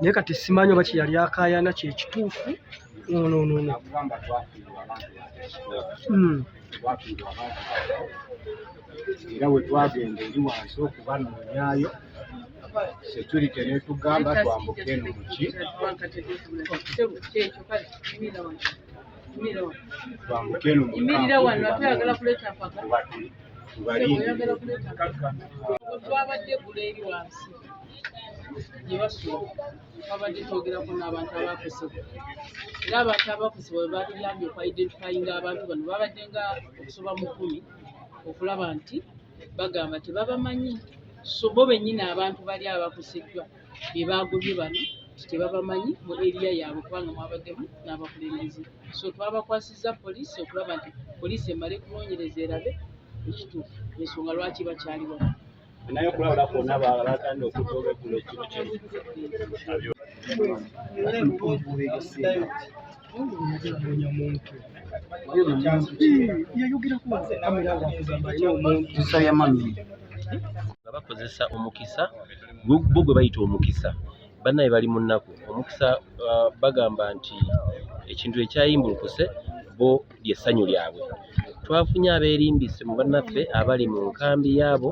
naye kati simanyi oba kyeyali akayana kyekituufu nononono hmm. era wetwagenda eri wansi okubanonyayo security netugamba twambuke eno muki twambukenu imirira wano ate oyagala kuleeta mpaka oyagala kuleeta twabadde gula eri wansi gye basula twabadde twogerako n'abantu abakosebwa era abantu abakosebwa bwe batuyambye okwidentifayinga abantu bano babadde nga okusoba mu kumi okulaba nti bagamba tebabamanyi so bo bennyini abantu bali abakoseddwa be baagobye bano nti tebabamanyi mu eriya yaabwe kubanga mwabaddemu n'abakulembeze so twabakwasizza poliisi okulaba nti poliisi emale kunoonyereza erabe ekituufu ensonga lwaki bakyali wano naye okulabula kwonna balatandika okudda olweggulo ekiro kino nga bakozesa omukisa gwo gwo gwe bayita omukisa bannaye bali mu nnaku omukisa ah, bagamba nti ekintu ekyayimbulukuse bo ly'essanyu lyabwe twafunye abeerimbise mu bannaffe abali mu nkambi yaabo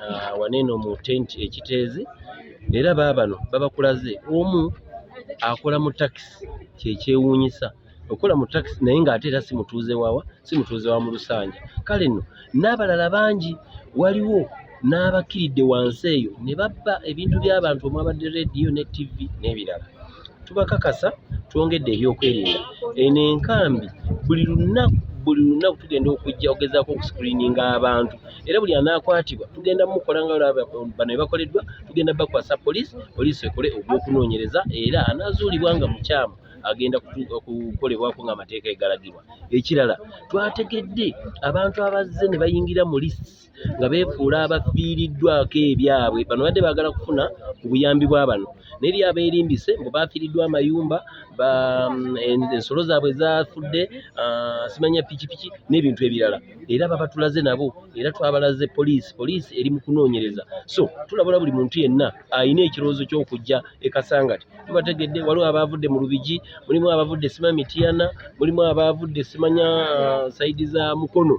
ah, waneeno mu tenti ekiteezi era baabano babakulaze omu akola mu takisi kyekyewuunyisa okola mu takisi naye ng'ate era si mutuuze wawa si mutuuze wa mu lusanja kale nno n'abalala bangi waliwo n'abakkiridde wansi eyo ne babba ebintu by'abantu omwabadde rediyo ne ttivi n'ebirala tubakakasa twongedde ebyokwerinda eno enkambi buli lunaku buli lunaku tugenda okujja okugezaako okuscreeninga abantu era buli anaakwatibwa tugenda mukola nga bano ebakoleddwa tugenda bakwasa poliisi poliisi ekole ogw'okunoonyereza era anaazuulibwa nga mukyamu agenda kukolebwako nga amateeka egalagirwa ekirala twategedde abantu abazze ne bayingira mu lisi nga beefuula abafiiriddwako ebyabwe bano badde baagala kufuna ku buyambi bwa bano naye eri abeerimbise mbu baafiiriddwa amayumba mm, ensolo zaabwe zaafudde ah, simanya pikipiki n'ebintu ebirala era babatulaze nabo era twabalaze poliisi poliisi eri mu kunoonyereza so tulabula buli muntu yenna alina ekirowoozo ky'okujja e kasangati tubategedde waliwo abaavudde mu lubigi mulimu abaavudde sima mitiyana mulimu abaavudde simanya uh, saidi za mukono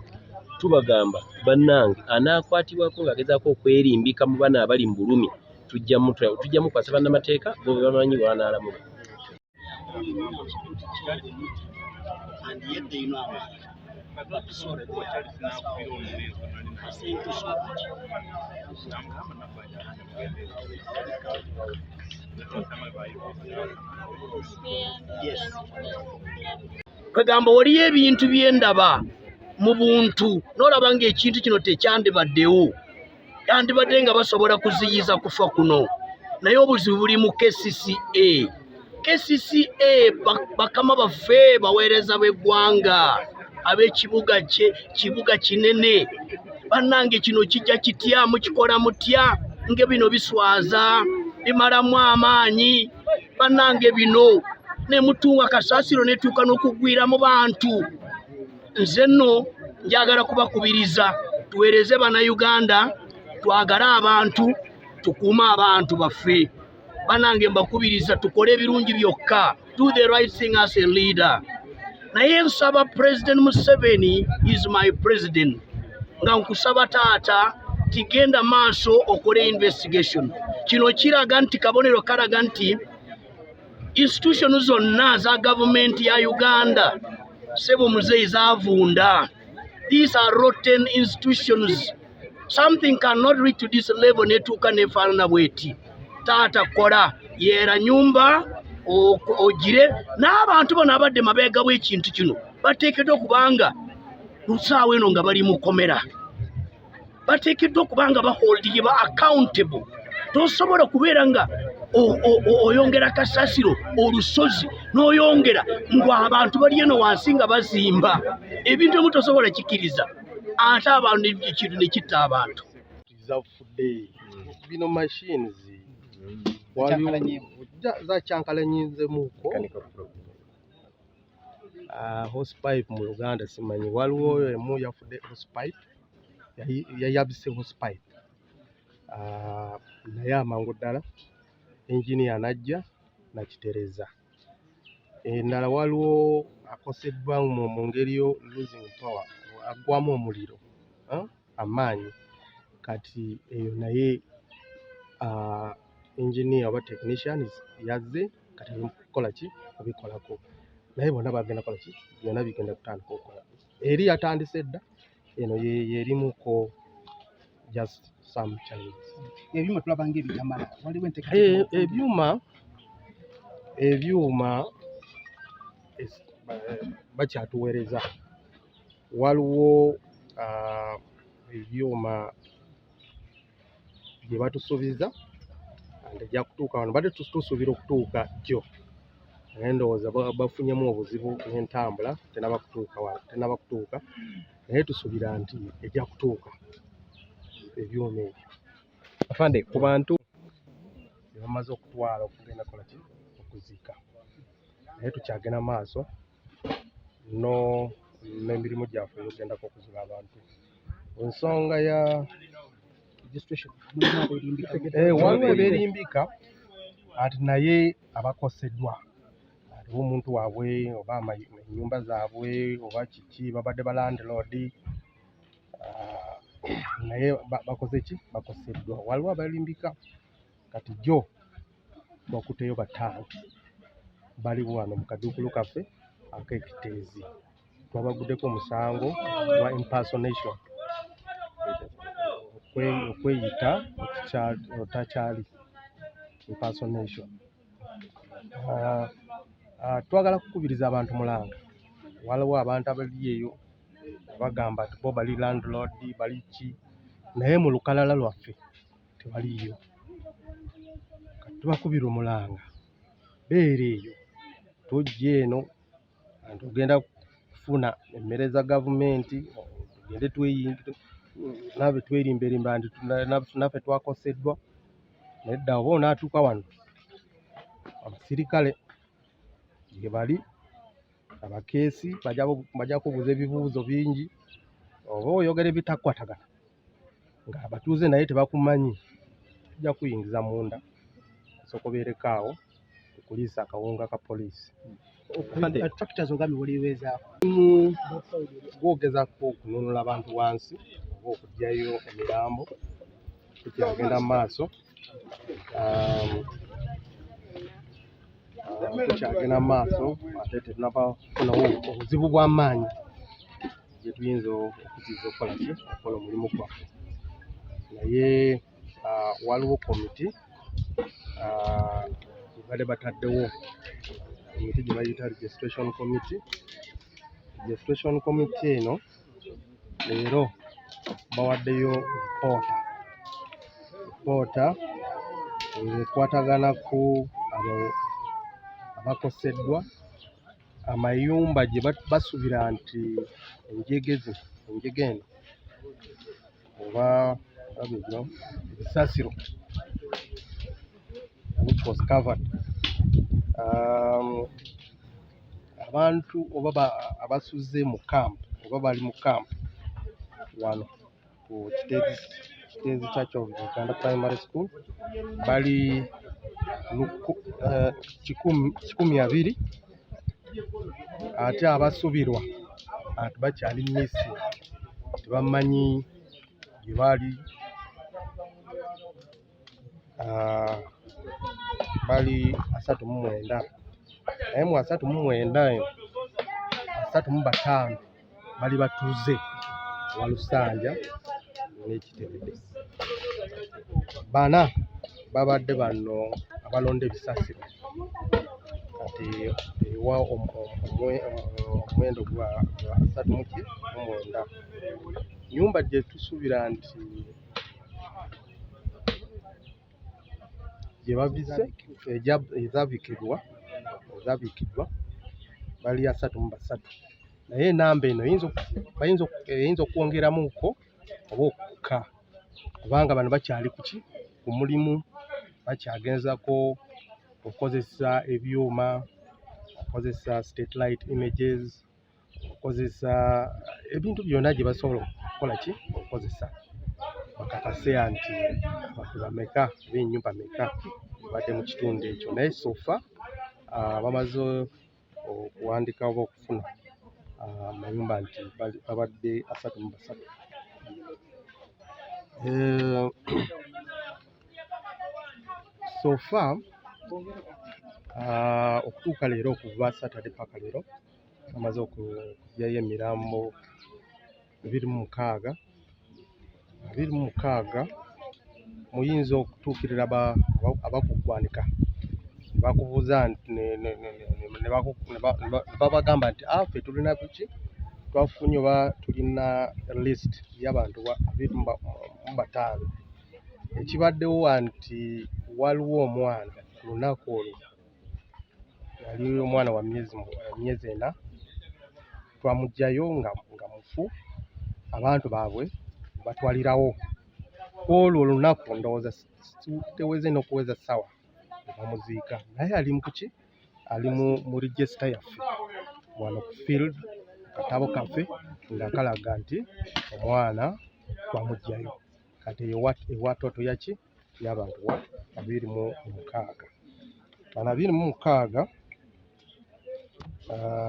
tubagamba bannange anaakwatibwako ng'agezaako okwerimbika mu bana abali mu bulumi tujja mukwasa bannamateeka bo be bamanyi bwanaalamula kwegamba waliyo ebintu byendaba mu buntu nolaba nga ekintu kino tekyandibaddewo yandibadde nga basobola kuziyiza kufa kuno naye obuzibu buli mu kcca kcca bakama baffe baweereza b'eggwanga ab'ekibuga kye kibuga kinene bannange kino kijja kitya mukikola mutya nge bino biswaza bimalamu amaanyi bannange bino ne mutunga kasaasiro netuuka n'okugwira mu bantu nze nno njagala kubakubiriza tuweereze bannayuganda twagale abantu tukuume abantu baffe banange mbakubiriza tukole ebirungi byokka do the right thing as a leader naye nsaba president museveni is my president nga nkusaba taata tigenda maaso okole investigation kino kiraga nti kabonero karaga nti institution zonna za gavumenti ya uganda sebo muzeyi zavunda these are rotten institutions something cannot reach to this level netuuka nefaanana bweti taata kola yeera nyumba ogire n'abantu bano abadde mabeega bw'ekintu kino bateekeddwa okubanga lusaawa eno nga bali mukomera bateekeddwa okubanga baholdingeba accountable tosobola kubeera nga oyongera kasasiro olusozi n'oyongera ng'abantu bali eno wansi nga bazimba ebintu emu tosobola kikiriza ate abantu ekintu ne kitta abantu zafudde bino machines zakyankalanyizemuko ah, hospipe mu luganda simanyi waliwo emu yafudde hospipe yayabise hospipe ah, naye amangu ddala enginia najja nakitereza endala waliwo akoseddwa mu ngeri yo losing power aggwamu omuliro eh, amaanyi kati eyo naye ah, engineer oba technician yazze kati kukola ki obikolako naye bona bagenda kola ki byona bigenda kutandika okukola eri yatandise dda eno yerimu ko just some challenges ebyuma tulaba nga ebitamala waliwo enteka eh, ebyuma ebyuma bakyatuweereza waliwo ah, ebyuma gye batusuubiza ejja kutuuka wano badde tusuubira okutuuka jjo naye ndowooza bafunyemu obuzibu n'entambula tenaba kutuuka wano tenaba kutuuka naye tusuubira nti ejja kutuuka ebyuma ebyo afande ku bantu bebamaze okutwala okugenda kolaki okuziika naye tukyagenda maaso no n'emirimu gyaffe eyogendako okuzira abantu ensonga ya eh, waliwo eberimbika ati naye abakoseddwa aliwo omuntu waabwe oba enyumba zaabwe oba kiki babadde ba landlord ah, naye bakoze ki bakoseddwa waliwo abalimbika kati jo bakuteyo bataano bali wano mu kaduukulu kaffe ak'ekiteezi twabaguddeko omusango gwa impersonation okweyita otakyali impersonation ah, ah, twagala kukubiriza abantu mulanga waliwo abantu abali eyo bagamba nti bo bali landlord bali ki naye mu lukalala lwaffe tebaliiyo tubakubira omulanga beera eyo tojja eno anti ogenda kufuna emmere za gavumenti tugende tweyinnabe twerimberimba nti naffe twakoseddwa naye dda oba onaatuuka wano abasirikale gye bali abakeesi bajja kubuuza ebibuuzo bingi oba oyogera ebitakwatagana nga abatuuze naye tebakumanyi tujja kuyingiza munda sokobeereko awo okuliisa akawunga ka poliisi gwogezako okununula abantu wansi oba okugyayo emirambo kukyagenda mu maaso um, uh, tukyagenda mu maaso ate tetunaba kufuna obuzibu bw'amaanyi gye tuyinza okuziza okukola ki okukola omulimu gwaffe naye uh, waliwo komiti uh, ebadde bataddewo komiti gye bayita registration committee registration committee eno leero bawaddeyo poota poota ekwatagana ku abo abakoseddwa amayumba gye basuubira nti enjegeze enjega eno oba babigwa ebisasiro which was covered um, abantu oba abasuze mu camp oba bali mu camp wano ku kiteezi kiteezi kya kyovita uganda primary school bali eh, kikumi abiri ate abasubirwa ati bakyali mumisi tebamanyi gye bali ah, bali asatu mu mwenda naye mu asatu mu mwenda asatu mu bataano bali batuuze wa Lusanja n'ekitebede bana babadde bano abalonda ebisasiro kati ewa omuwendo gwa asatu muki mumwenda nyumba gyetusuubira nti gye bavise ezabikibwa ezabikiddwa bali asatu mu basatu naye enamba eno eyinza okwongeramuko oba okukka kubanga bano bakyali kuki ku mulimu bakyagenzako okukozesa ebyuma okukozesa state light images okukozesa ebintu byonna gye basobola okukola ki okukozesa bakakase nti abantu bameka oba ennyumba meka ebadde mu kitundu ekyo naye sofa ah, bamaze okuwandika oba okufuna ah, amayumba nti babadde asatu mu basatu eh, sofa ah, okutuuka leero okuva saturday paka leero bamaze okuggyayo emirambo ebiri mu mukaaga ebiri mu mukaaga muyinza okutuukirira aba abakuggwanika ne bakubuuza nti ne ne ne ne ne baku- ne ba- ne ba- ne babagamba nti "Ah, ffe tulina kuki twafunye oba tulina list y'abantu ba- abiri mu ba- mu bataano ekibaddewo wa nti waliwo omwana ku lunaku olwo yali omwana wa myezi myezi ena twamugjayo nga nga mufu abantu baabwe batwalirawo kwolwo olunaku ndowooza teweze nokuweza sawa bamuziika naye ali mukuki ali mu register yaffe wano ku field katabo kaffe nga kalaga nti omwana twamugjayo kati ewa toto yaki y'abantu wa abiri mu mukaaga bano abiri mu mukaaga uh,